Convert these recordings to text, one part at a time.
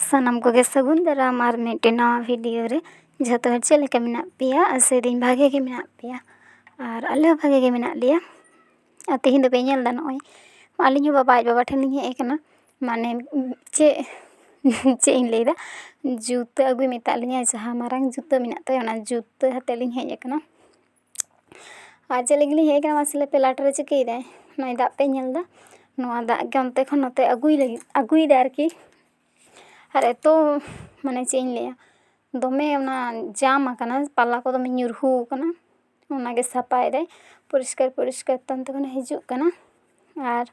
ᱥᱟᱱᱟᱢ ᱠᱚᱜᱮ ᱥᱟᱹᱜᱩᱱ ᱫᱟᱨᱟᱢ ᱟᱨ ᱢᱤᱫᱴᱮᱱ ᱱᱟᱣᱟ ᱵᱷᱤᱰᱤᱭᱳ ᱨᱮ ᱡᱷᱚᱛᱚ ᱦᱚᱲ ᱪᱮᱫ ᱞᱮᱠᱟ ᱢᱮᱱᱟᱜ ᱯᱮᱭᱟ ᱟᱥᱟᱭ ᱫᱟᱹᱧ ᱵᱷᱟᱜᱮ ᱜᱮ ᱢᱮᱱᱟᱜ ᱯᱮᱭᱟ ᱟᱨ ᱟᱞᱮ ᱦᱚᱸ ᱵᱷᱟᱜᱮ ᱜᱮ ᱢᱮᱱᱟᱜ ᱞᱮᱭᱟ ᱟᱨ ᱛᱮᱦᱮᱧ ᱫᱚᱯᱮ ᱧᱮᱞ ᱫᱟ ᱱᱚᱜᱼᱚᱭ ᱟᱹᱞᱤᱧ ᱦᱚᱸ ᱵᱟᱵᱟ ᱟᱡ ᱵᱟᱵᱟ ᱴᱷᱮᱱ ᱞᱤᱧ ᱦᱮᱡ ᱠᱟᱱᱟ ᱢᱟᱱᱮ ᱪᱮᱫ ᱪᱮᱫ ᱤᱧ ᱞᱟᱹᱭᱫᱟ ᱡᱩᱛᱟᱹ ᱟᱹᱜᱩᱭ ᱢᱮᱛᱟᱜ ᱞᱤᱧᱟᱭ ᱡᱟᱦᱟᱸ ᱢᱟᱨᱟᱝ ᱡᱩᱛᱟᱹ ᱢᱮᱱᱟᱜ ᱛᱟᱭᱟ ᱚᱱᱟ ᱡᱩᱛᱟᱹ ᱦᱟᱛᱟᱣ ᱞᱤᱧ ᱦᱮᱡ ᱠᱟᱱᱟ ᱟᱨ ᱪᱮᱫ ᱞᱟᱹᱜᱤᱫ ᱞᱤᱧ ᱦᱮᱡ ᱠᱟᱱᱟ ᱢᱟᱥᱮ ᱞᱟᱹᱭ ᱯᱮ ᱞᱟᱴᱟ ᱨᱮ ᱪᱤᱠᱟᱹᱭ ᱫᱟᱭ ᱱᱚᱜᱼᱚᱭ ᱫᱟᱜ ᱯᱮ ᱧᱮᱞ ᱫᱟ ᱱᱚᱣᱟ ᱫᱟᱜ ᱜᱮ ᱚᱱᱛᱮ ᱠᱷᱚᱱ ᱱᱚᱛᱮ ᱟᱹᱜᱩᱭ ᱞᱟᱹᱜᱤᱫ ᱟᱹᱜᱩᱭ ᱫᱟᱭ ᱟᱨᱠᱤ ᱟᱨ ᱮᱛᱚ ᱢᱟᱱᱮ ᱪᱮᱫ ᱤᱧ ᱞᱟᱹᱭᱟ ᱫᱚᱢᱮ ᱚᱱᱟ ᱡᱟᱢ ᱟᱠᱟᱱᱟ ᱯᱟᱞᱟ ᱠᱚ ᱫᱚᱢᱮ ᱧᱩᱨᱦᱩ ᱟᱠᱟᱱᱟ ᱚᱱᱟᱜᱮ ᱥᱟᱯᱷᱟᱭ ᱫᱟᱭ ᱯᱚᱨᱤᱥᱠᱟᱨ ᱯᱚᱨᱤᱥᱠᱟᱨ ᱛᱮ ᱚᱱᱛᱮ ᱠᱷᱚᱱᱮ ᱦᱤᱡᱩᱜ ᱠᱟᱱᱟ ᱟᱨ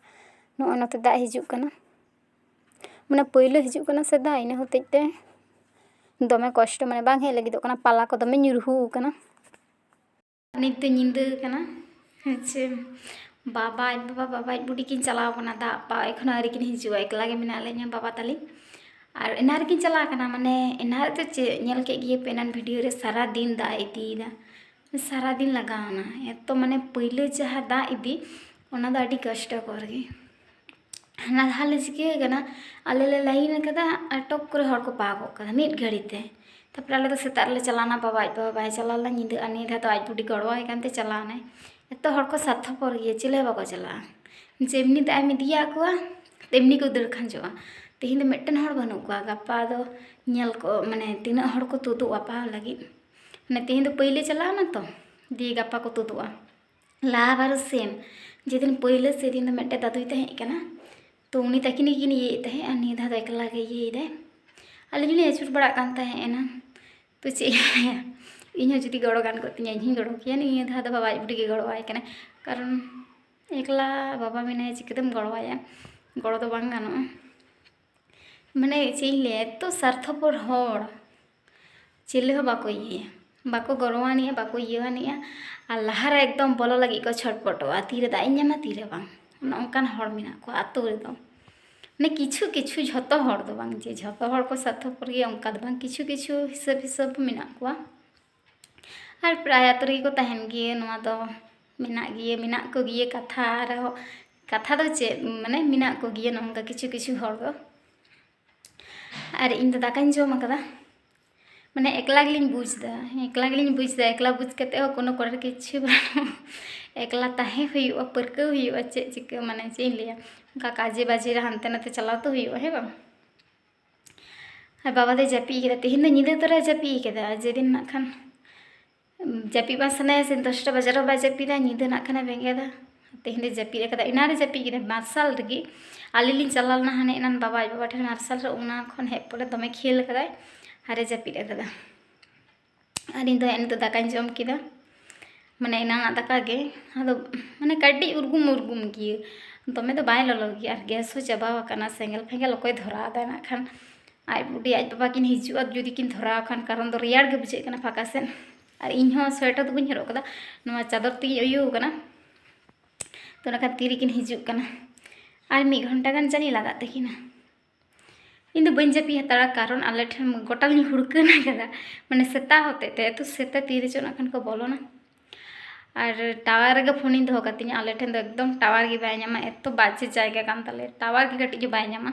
ᱱᱚᱜᱼᱚᱭ ᱱᱚᱛᱮ ᱫᱟᱜ ᱦᱤᱡᱩᱜ ᱠᱟᱱᱟ ᱢᱟᱱᱮ ᱯᱳᱭᱞᱳ ᱦᱤᱡᱩᱜ ᱠᱟᱱᱟ ᱥᱮ ᱫᱟᱜ ᱤᱱᱟᱹ ᱦᱚᱛᱮᱡ ᱛᱮ ᱫᱚᱢᱮ ᱠᱚᱥᱴᱚ ᱢᱟᱱᱮ ᱵᱟᱝ ᱦᱮᱡ ᱞᱟᱹᱜᱤᱫᱚᱜ ᱠᱟᱱᱟ ᱯᱟᱞᱟ ᱠᱚ ᱫᱚᱢᱮ ᱧᱩᱨᱦᱩ ᱠᱟᱱᱟ ᱱᱤᱛ ᱫᱚ ᱧᱤᱫᱟᱹ ᱠᱟᱱᱟ ᱦᱮᱸᱪᱮ ᱵᱟᱵᱟ ᱟᱡ ᱵᱟᱵᱟ ᱵᱟᱵᱟ ᱟᱡ ᱵᱩᱰᱤ ᱠᱤᱱ ᱪᱟᱞᱟᱣ ᱠᱟᱱᱟ ᱫᱟᱜ ᱯᱟ ᱮᱠᱷᱚᱱ ᱟᱹᱣᱨᱤ ᱠᱤᱱ ᱦᱤᱡᱩᱜᱼᱟ ᱮᱠᱞᱟ ᱜᱮ ᱢᱮᱱᱟᱜ ᱞᱤᱧᱟ ᱵᱟᱵᱟ ᱛᱟᱹᱞᱤᱧ ᱟᱨ ᱮᱱᱟᱱ ᱨᱮᱠᱤᱱ ᱪᱟᱞᱟᱣ ᱠᱟᱱᱟ ᱢᱟᱱᱮ ᱮᱱᱟᱱ ᱨᱮᱫᱚ ᱪᱮᱫ ᱧᱮᱞ ᱠᱮᱫ ᱜᱮᱭᱟᱯᱮ ᱮᱱᱟᱱ ᱵᱷᱤᱰᱤᱭᱳ ᱨᱮ ᱥᱟᱨᱟᱫᱤᱱ ᱫᱟᱜ ᱮ ᱤᱫᱤᱭᱮᱫᱟ ᱥᱟᱨᱟᱫᱤᱱ ᱞᱟᱜᱟᱣᱱᱟ ᱮᱛᱚ ᱢᱟᱱᱮ ᱯᱟᱹᱭᱞᱟᱹ ᱡᱟᱦᱟᱸ ᱫᱟᱜ ᱤᱫᱤ ᱚᱱᱟ ᱫᱚ ᱟᱹᱰᱤ ᱠᱚᱥᱴᱚᱠᱚᱨ ᱜᱮ ᱦᱟᱱᱟ ᱫᱷᱟᱣ ᱞᱮ ᱪᱤᱠᱟᱹ ᱠᱟᱱᱟ ᱟᱞᱮ ᱞᱮ ᱞᱟᱭᱤᱱ ᱠᱟᱫᱟ ᱟᱨ ᱴᱚᱯ ᱠᱚᱨᱮ ᱦᱚᱲ ᱠᱚ ᱯᱟᱣᱨᱟ ᱠᱚᱜ ᱠᱟᱱᱟ ᱢᱤᱫ ᱜᱷᱟᱹᱲᱤ ᱛᱮ ᱛᱟᱨᱯᱚᱨᱮ ᱟᱞᱮ ᱫᱚ ᱥᱮᱛᱟᱜ ᱨᱮᱞᱮ ᱪᱟᱞᱟᱣᱱᱟ ᱵᱟᱵᱟ ᱟᱡ ᱵᱟᱵᱟ ᱵᱟᱭ ᱪᱟᱞᱟᱣ ᱞᱮᱱᱟ ᱧᱤᱫᱟᱹ ᱟᱨ ᱱᱤᱭᱟᱹ ᱫᱷᱟᱣ ᱫᱚ ᱟᱡ ᱵᱩᱰᱤ ᱜᱚᱲᱚᱣᱟᱭ ᱠᱟᱱᱛᱮ ᱪᱟᱞᱟᱣᱱᱟᱭ ᱮᱛᱚ ᱦᱚᱲ ᱠᱚ ᱥᱟᱨᱛᱷᱚᱯᱚᱨ ᱜᱮᱭᱟ ᱪᱤᱞᱤ ᱦᱚᱸ ᱵᱟᱠᱚ ᱪᱟᱞᱟᱜᱼᱟ ᱡᱮᱢᱱᱤ ᱫᱟᱜ ᱮᱢ ᱤᱫᱤᱭᱟᱜ ᱠᱚᱣᱟ ᱛᱮᱢᱱᱤ ᱠᱚ ᱫᱟᱹᱲ ᱠᱷᱟᱸᱡᱚᱜᱼᱟ ᱛᱮᱦᱮᱧ ᱫᱚ ᱢᱤᱫᱴᱮᱱ ᱦᱚᱲ ᱵᱟᱹᱱᱩᱜ ᱠᱚᱣᱟ ᱜᱟᱯᱟ ᱫᱚ ᱧᱮᱞ ᱠᱚ ᱢᱟᱱᱮ ᱛᱤᱱᱟᱹᱜ ᱦᱚᱲ ᱠᱚ ᱛᱩᱫᱩᱜᱼᱟ ᱯᱟᱣᱨᱟ ᱞᱟᱹᱜᱤᱫ ᱢᱟᱱᱮ ᱛᱮᱦᱮᱧ ᱫᱚ ᱯᱟᱹᱭᱞᱟᱹ ᱪᱟᱞᱟᱣ ᱮᱱᱟ ᱛᱚ ᱫᱤᱭᱮ ᱜᱟᱯᱟ ᱠᱚ ᱛᱩᱫᱩᱜᱼᱟ ᱞᱟᱦᱟ ᱵᱟᱨ ᱥᱮᱢ ᱡᱮᱫᱤᱱ ᱯᱟᱹᱭᱞᱟᱹ ᱥᱮᱫᱤᱱ ᱫᱚ ᱢᱤᱫᱴᱮᱡ ᱫᱟᱫᱩᱭ ᱛᱟᱦᱮᱸ ᱠᱟᱱᱟ ᱛᱚ ᱩᱱᱤ ᱛᱟᱹᱠᱤᱱ ᱜᱮᱠᱤᱱ ᱤᱭᱟᱹᱭᱮᱫ ᱛᱟᱦᱮᱸᱫ ᱟᱨ ᱱᱤᱭᱟᱹ ᱫᱷᱟᱣ ᱫᱚ ᱮᱠᱞᱟ ᱜᱮ ᱤᱭᱟᱹᱭᱮᱫᱟᱭ ᱟᱹᱞᱤᱧ ᱦᱚᱸᱞᱤᱧ ᱟᱹᱪᱩᱨ ᱵᱟᱲᱟᱜ ᱠᱟᱱ ᱛᱟᱦᱮᱸ ᱮᱱᱟ ᱛᱚ ᱪᱮᱫ ᱤᱧ ᱦᱚᱸ ᱡᱩᱫᱤ ᱜᱚᱲᱚ ᱜᱟᱱ ᱠᱚᱜ ᱛᱤᱧᱟ ᱤᱧ ᱦᱚᱸᱧ ᱜᱚᱲᱚ ᱠᱮᱭᱟ ᱱᱤᱭᱟᱹ ᱫᱷᱟᱣ ᱫᱚ ᱵᱟᱵᱟ ᱟᱡ ᱵᱩᱰᱤ ᱜᱮ ᱜᱚᱲᱚᱣᱟᱭ ᱠᱟᱱᱟᱭ ᱠᱟᱨᱚᱱ ᱮᱠᱞᱟ ᱵᱟᱵᱟ ᱢᱮᱱᱟᱭᱟ ᱪᱤᱠᱟᱹᱛᱮᱢ ᱜᱚᱲᱚᱣᱟᱭᱟ ᱜᱚᱲᱚ ᱫᱚ ᱵᱟᱝ ᱜᱟᱱᱚᱜᱼᱟ ᱢᱟᱱᱮ ᱪᱮᱫ ᱤᱧ ᱞᱟᱹᱭᱟ ᱮᱛᱚ ᱥᱟᱨᱛᱷᱚᱯᱚᱨ ᱦᱚᱲ ᱪᱤᱞᱤ ᱦᱚᱸ ᱵᱟᱠᱚ ᱤᱭᱟᱹᱭᱟ ᱵᱟᱠᱚ ᱜᱚᱲᱚ ᱟᱹᱱᱤᱡᱼᱟ ᱵᱟᱠᱚ ᱤᱭᱟᱹ ᱟᱹᱱᱤᱡᱼᱟ ᱟᱨ ᱞᱟᱦᱟᱨᱮ ᱮᱠᱫᱚᱢ ᱵᱚᱞᱚ ᱞᱟᱹᱜᱤᱫ ᱠᱚ ᱪᱷᱚᱴᱯᱚᱴᱚᱜᱼᱟ ᱛᱤᱨᱮ ᱫᱟᱜ ᱤᱧ ᱧᱟᱢᱟ ᱛᱤᱨᱮ ᱵᱟᱝ ᱚᱱᱮ ᱚᱱᱠᱟᱱ ᱦᱚᱲ ᱢᱮᱱᱟᱜ ᱠᱚᱣᱟ ᱟᱹᱛᱩ ᱨᱮᱫᱚ ᱢᱟᱱᱮ ᱠᱤᱪᱷᱩ ᱠᱤᱪᱷᱩ ᱡᱷᱚᱛᱚ ᱦᱚᱲ ᱫᱚ ᱵᱟᱝ ᱡᱮ ᱡᱷᱚᱛᱚ ᱦᱚᱲ ᱠᱚ ᱥᱟᱨᱛᱷᱚᱯᱚᱨ ᱜᱮᱭᱟ ᱚᱱᱠᱟ ᱫᱚ ᱵᱟᱝ ᱠᱤᱪᱷᱩ ᱠᱤᱪᱷᱩ ᱦᱤᱥᱟᱹᱵ ᱦᱤᱥᱟᱹᱵ ᱢᱮᱱᱟᱜ ᱠᱚᱣᱟ ᱟᱨ ᱯᱨᱟᱭ ᱟᱹᱛᱩ ᱨᱮᱜᱮ ᱠᱚ ᱛᱟᱦᱮᱱ ᱜᱮᱭᱟ ᱱᱚᱣᱟ ᱫᱚ ᱢᱮᱱᱟᱜ ᱜᱮᱭᱟ ᱢᱮᱱᱟᱜ ᱠᱚᱜᱮᱭᱟ ᱠᱟᱛᱷᱟ ᱨᱮᱦᱚᱸ ᱠᱟᱛᱷᱟ ᱫᱚ ᱪᱮᱫ ᱢᱟᱱᱮ ᱢᱮᱱᱟᱜ ᱠᱚᱜᱮᱭᱟ ᱱᱚᱝᱠᱟ ᱠᱤᱪᱷᱩ ᱠᱤᱪᱷᱩ ᱦᱚᱲ ᱫᱚ ᱟᱨ ᱤᱧ ᱫᱚ ᱫᱟᱠᱟᱧ ᱡᱚᱢ ᱟᱠᱟᱫᱟ ᱢᱟᱱᱮ ᱮᱠᱞᱟ ᱜᱮᱞᱤᱧ ᱵᱩᱡᱽ ᱮᱫᱟ ᱮᱠᱞᱟ ᱜᱮᱞᱤᱧ ᱵᱩᱡᱽ ᱮᱫᱟ ᱮᱠᱞᱟ ᱵᱩᱡᱽ ᱠᱟᱛᱮ ᱦᱚᱸ ᱠᱳᱱᱳ ᱠᱚᱨᱟᱨ ᱠᱤᱪᱷᱩ ᱵᱟᱹᱱᱩᱜᱼᱟ ᱮᱠᱞᱟ ᱛᱟᱦᱮᱸ ᱦᱩᱭᱩᱜᱼᱟ ᱯᱟᱹᱨᱠᱟᱹᱣ ᱦᱩᱭᱩᱜᱼᱟ ᱪᱮᱫ ᱪᱤᱠᱟᱹ ᱢᱟᱱᱮ ᱪᱮᱫ ᱤᱧ ᱞᱟᱹᱭᱟ ᱚᱱᱠᱟ ᱠᱟᱡᱮ ᱵᱟᱡᱮ ᱨᱮ ᱦᱟᱱᱛᱮ ᱱᱟᱛᱮ ᱪᱟᱞᱟᱣ ᱛᱚ ᱦᱩᱭᱩᱜᱼᱟ ᱦᱮᱸ ᱵᱟᱝ ᱟᱨ ᱵᱟᱵᱟ ᱫᱚᱭ ᱡᱟᱹᱯᱤᱫ ᱠᱟᱫᱟ ᱛᱮᱦᱮᱧ ᱫᱚ ᱧᱤᱫᱟᱹ ᱛᱚᱨᱟᱭ ᱡᱟᱹᱯᱤᱫ ᱠᱟᱫᱟ ᱡᱮᱫᱤᱱ ᱱᱟᱜ ᱠᱷᱟᱱ ᱡᱟᱹᱯᱤᱫ ᱵᱟᱝ ᱥᱟᱱᱟᱭᱟ ᱥᱮ ᱫᱚᱥᱴᱟ ᱵᱟᱡᱟᱨ ᱨᱮᱦᱚᱸ ᱵᱟᱭ ᱡᱟᱹᱯᱤᱫᱟ ᱧᱤᱫᱟᱹ ᱱᱟᱜ ᱠᱷᱟᱱᱮ ᱵᱮᱸᱜᱮᱫᱟ ᱛᱮᱦᱮᱧ ᱫᱚᱭ ᱡᱟᱹᱯᱤᱫ ᱟᱠᱟᱫᱟ ᱮᱱᱟᱱ ᱨᱮ ᱡᱟᱹᱯᱤᱫ ᱠᱮᱫᱟᱭ ᱢᱟᱨᱥᱟᱞ ᱨᱮᱜᱮ ᱟᱹᱞᱤᱧ ᱞᱤᱧ ᱪᱟᱞᱟᱣ ᱞᱮᱱᱟ ᱦᱟᱱᱮ ᱮᱱᱟᱱ ᱵᱟᱵᱟ ᱟᱡ ᱵᱟᱵᱟ ᱴᱷᱮᱱ ᱢᱟᱨᱥᱟᱞ ᱨᱮ ᱚᱱᱟ ᱠᱷᱚᱱ ᱦᱮᱡ ᱯᱚᱨᱮ ᱫᱚᱢᱮ ᱠᱷᱮᱞ ᱟᱠᱟᱫᱟᱭ ᱟᱨᱮ ᱡᱟᱹᱯᱤᱫ ᱟᱠᱟᱫᱟ ᱟᱨ ᱤᱧ ᱫᱚ ᱱᱤᱛᱚᱜ ᱫᱟᱠᱟᱧ ᱡᱚᱢ ᱠᱮᱫᱟ ᱢᱟᱱᱮ ᱮᱱᱟᱱᱟᱜ ᱫᱟᱠᱟ ᱜᱮ ᱟᱫᱚ ᱢᱟᱱᱮ ᱠᱟᱹᱴᱤᱡ ᱩᱨᱜᱩᱢ ᱩᱨᱜᱩᱢ ᱜᱮᱭᱟ ᱫᱚᱢᱮ ᱫᱚ ᱵᱟᱭ ᱞᱚᱞᱚ ᱜᱮᱭᱟ ᱟᱨ ᱜᱮᱥ ᱦᱚᱸ ᱪᱟᱵᱟ ᱟᱠᱟᱱᱟ ᱥᱮᱸᱜᱮᱞ ᱯᱷᱮᱸᱜᱮᱞ ᱚᱠᱚᱭ ᱫᱷᱚᱨᱟᱣ ᱮᱫᱟ ᱱᱟᱜ ᱠᱷᱟᱱ ᱟᱡ ᱵᱩᱰᱤ ᱟᱡ ᱵᱟᱵᱟ ᱠᱤᱱ ᱦᱤᱡᱩᱜᱼᱟ ᱡᱩᱫᱤ ᱠᱤᱱ ᱫᱷᱚᱨᱟᱣ ᱠᱷᱟᱱ ᱠᱟᱨᱚᱱ ᱫᱚ ᱨᱮᱭᱟᱲ ᱜᱮ ᱵᱩᱡᱷᱟᱹᱜ ᱠᱟᱱᱟ ᱯᱷᱟᱸᱠᱟ ᱥᱮᱫ ᱟᱨ ᱤᱧ ᱦᱚᱸ ᱥᱳᱭᱮᱴᱟᱨ ᱫᱚ ᱵᱟᱹᱧ ᱦᱚᱨᱚᱜ ᱠᱟᱫᱟ ᱱᱚᱣᱟ ᱪᱟᱫᱚᱨ ᱛᱮᱜᱮᱧ ᱩᱭᱩ ᱠᱟᱱᱟ ᱛᱚ ᱚᱱᱟ ᱠᱷᱟᱱ ᱛᱤᱨᱮᱠᱤᱱ ᱦᱤᱡᱩᱜ ᱠᱟᱱᱟ ᱟᱨ ᱢᱤᱫ ᱜᱷᱚᱱᱴᱟ ᱜᱟᱱ ᱡᱟᱹᱱᱤᱡ ᱞᱟᱜᱟᱜ ᱛᱟᱹᱠᱤᱱᱟ ᱤᱧ ᱫᱚ ᱵᱟᱹᱧ ᱡᱟᱹᱯᱤᱫ ᱦᱟᱛᱟᱲᱟ ᱠᱟᱨᱚᱱ ᱟᱞᱮ ᱴᱷᱮᱱ ᱜᱚᱴᱟ ᱞᱤᱧ ᱦᱩᱲᱠᱟᱹᱱ ᱟᱠᱟᱫᱟ ᱢᱟᱱᱮ ᱥᱮᱛᱟ ᱦᱚᱛᱮᱡ ᱛᱮ ᱮᱛᱚ ᱥᱮᱛᱟ ᱛᱤᱨᱮ ᱪᱚ ᱱᱟᱜ ᱠᱷᱟᱱ ᱠᱚ ᱵᱚᱞᱚᱱᱟ ᱟᱨ ᱴᱟᱣᱟᱨ ᱨᱮᱜᱮ ᱯᱷᱳᱱᱤᱧ ᱫᱚᱦᱚ ᱠᱟᱛᱤᱧᱟ ᱟᱞᱮ ᱴᱷᱮᱱ ᱫᱚ ᱮᱠᱫᱚᱢ ᱴᱟᱣᱟᱨ ᱜᱮ ᱵᱟᱭ ᱧᱟᱢᱟ ᱮᱛᱚ ᱵᱟᱡᱮ ᱡᱟᱭᱜᱟ ᱠᱟᱱ ᱛᱟᱞᱮᱭᱟ ᱴᱟᱣᱟᱨ ᱜᱮ ᱠᱟᱹᱴᱤᱡ ᱦᱚᱸ ᱵᱟᱭ ᱧᱟᱢᱟ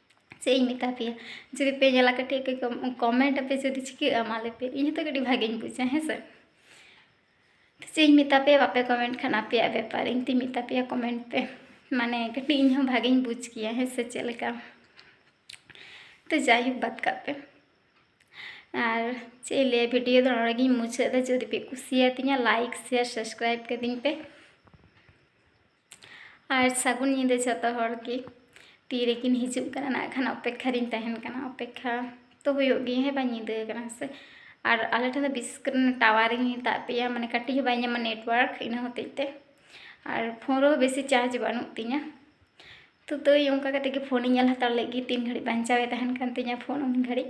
ᱪᱮᱫ ᱤᱧ ᱢᱮᱛᱟ ᱯᱮᱭᱟ ᱡᱩᱫᱤ ᱯᱮ ᱧᱮᱞᱟ ᱠᱟᱹᱴᱤᱡ ᱯᱮ ᱠᱚᱢᱮᱱᱴ ᱟᱯᱮ ᱡᱩᱫᱤ ᱪᱤᱠᱟᱹᱜᱼᱟ ᱢᱟ ᱞᱟᱹᱭ ᱯᱮ ᱤᱧ ᱦᱚᱸᱛᱚ ᱠᱟᱹᱴᱤᱡ ᱵᱷᱟᱜᱮᱧ ᱵᱩᱡᱟ ᱦᱮᱸ ᱥᱮ ᱪᱮᱫ ᱤᱧ ᱢᱮᱛᱟ ᱯᱮᱭᱟ ᱵᱟᱯᱮ ᱠᱚᱢᱮᱱᱴ ᱠᱷᱟᱱ ᱟᱯᱮᱭᱟᱜ ᱵᱮᱯᱟᱨ ᱤᱧ ᱛᱤᱧ ᱢᱮᱛᱟ ᱯᱮᱭᱟ ᱠᱚᱢᱮᱱᱴ ᱯᱮ ᱢᱟᱱᱮ ᱠᱟᱹᱴᱤᱡ ᱤᱧ ᱦᱚᱸ ᱵᱷᱟᱜᱮᱧ ᱵᱩᱡᱽ ᱠᱮᱭᱟ ᱦᱮᱸ ᱥᱮ ᱪᱮᱫ ᱞᱮᱠᱟ ᱛᱚ ᱡᱟᱭᱦᱳᱠ ᱵᱟᱫ ᱠᱟᱜ ᱯᱮ ᱟᱨ ᱪᱮᱫ ᱤᱧ ᱞᱟᱹᱭᱟ ᱵᱷᱤᱰᱤᱭᱳ ᱫᱚ ᱱᱚᱰᱮ ᱜᱤᱧ ᱢᱩᱪᱟᱹᱫ ᱮᱫᱟ ᱡᱩᱫᱤ ᱯᱮ ᱠᱩᱥᱤᱭᱟᱛᱤᱧᱟ ᱞᱟᱭᱤᱠ ᱥᱮᱭᱟᱨ ᱥᱟᱵᱥᱠᱨᱟᱭᱤᱵ ᱠᱟᱹᱫᱤᱧ ᱯᱮ ᱟᱨ ᱥᱟᱹᱜᱩᱱ ᱧᱤᱫᱟᱹ ᱡᱚᱛᱚ ᱦᱚᱲ ᱜᱮ ᱛᱤ ᱨᱮᱠᱤᱱ ᱦᱤᱡᱩᱜ ᱠᱟᱱᱟ ᱱᱟᱜ ᱠᱷᱟᱱ ᱚᱯᱮᱠᱠᱷᱟ ᱨᱤᱧ ᱛᱟᱦᱮᱱ ᱠᱟᱱᱟ ᱚᱯᱮᱠᱠᱷᱟ ᱛᱚ ᱦᱩᱭᱩᱜ ᱜᱮ ᱦᱮᱸ ᱵᱟᱝ ᱧᱤᱫᱟᱹ ᱠᱟᱱᱟ ᱥᱮ ᱟᱨ ᱟᱞᱮ ᱴᱷᱮᱱ ᱫᱚ ᱵᱤᱥᱮᱥ ᱠᱚᱨᱮ ᱴᱟᱣᱟᱨ ᱤᱧ ᱢᱮᱛᱟᱫ ᱯᱮᱭᱟ ᱢᱟᱱᱮ ᱠᱟᱹᱴᱤᱡ ᱦᱚᱸ ᱵᱟᱭ ᱧᱟᱢᱟ ᱱᱮᱴᱣᱟᱨᱠ ᱤᱱᱟᱹ ᱦᱚᱛᱮᱡ ᱛᱮ ᱟᱨ ᱯᱷᱳᱱ ᱨᱮᱦᱚᱸ ᱵᱮᱥᱤ ᱪᱟᱨᱡᱽ ᱵᱟᱹᱱᱩᱜ ᱛᱤᱧᱟᱹ ᱛᱚ ᱛᱟᱹᱭ ᱚᱱᱠᱟ ᱠᱟᱛᱮ ᱜᱮ ᱯᱷᱳᱱᱤᱧ ᱧᱮᱞ ᱦᱟᱛᱟᱲ ᱞᱮᱫ ᱜᱮ ᱛᱤᱱ ᱜᱷᱟᱹᱲᱤᱡ ᱵᱟᱧᱪᱟᱣᱮ ᱛᱟᱦᱮᱱ ᱠᱟᱱ ᱛᱤᱧᱟᱹ ᱯᱷᱳᱱ ᱩᱱ ᱜᱷᱟᱹᱲᱤᱡ